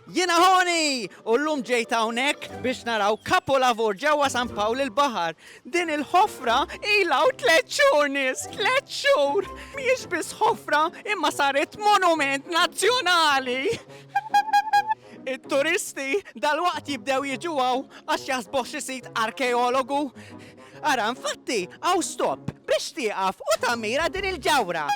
Jiena Honi! U llum ġejt hawnhekk biex naraw kapolavur ġewwa San Pawl il-Baħar. Din il-ħofra ilha hawn tliet xhur nies, tliet xhur! Mhijiex biss ħofra imma saret monument nazzjonali! It-turisti dalwaqt jibdew jiġu hawn għax jaħsbuh xi sit arkeologu. Ara, infatti, hawn stop biex tieqaf u tammira din il-ġawhra.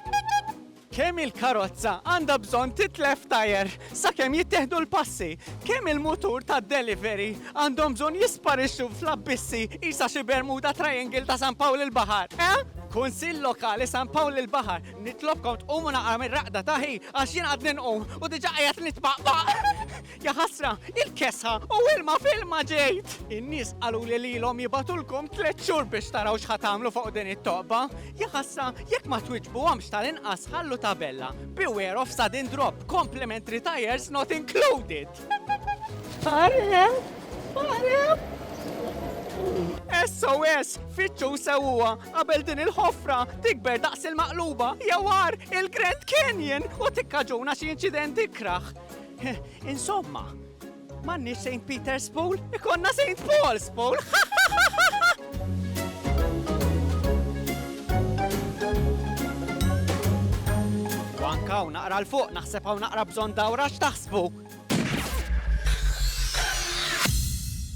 Kemm il-karozza għandha bżonn titlef tajer sakemm jittieħdu l-passi? Kemm il-mutur tad-delivery għandhom bżonn jisparixxu fl-abbissi qisha xi Bermuda Triangle ta' San Pawl il-Baħar, eh? Kunsill Lokali San Pawl il-Baħar, nitlobkom tqumu naqra mir-raqda ta' hi għax jien għadni nqum u diġà qiegħed nitpaqpaq! Jaħasra, il-kesħa u ilma filma ġejt! In-nies qalu li lilhom jibatulkom tliet xhur biex taraw x'ħa tagħmlu fuq din it-toqba. Jaħasra, jekk ma twiġbuhomx tal-inqas ħallu tabella, Beware of sudden drop, complimentary tires not included! Għarem! Għarem! SOS, fitxu sewwa qabel din il-ħofra tikber daqs il-maqluba jawar il-Grand Canyon u tikkaġuna xi inċidenti kraħ. Insomma, m'għandniex St. Peter's Pool, ikonna St. Paul's Pool. Wanka u naqra l-fuq, naħseb hawn naqra bżonn dawra x'taħsbu.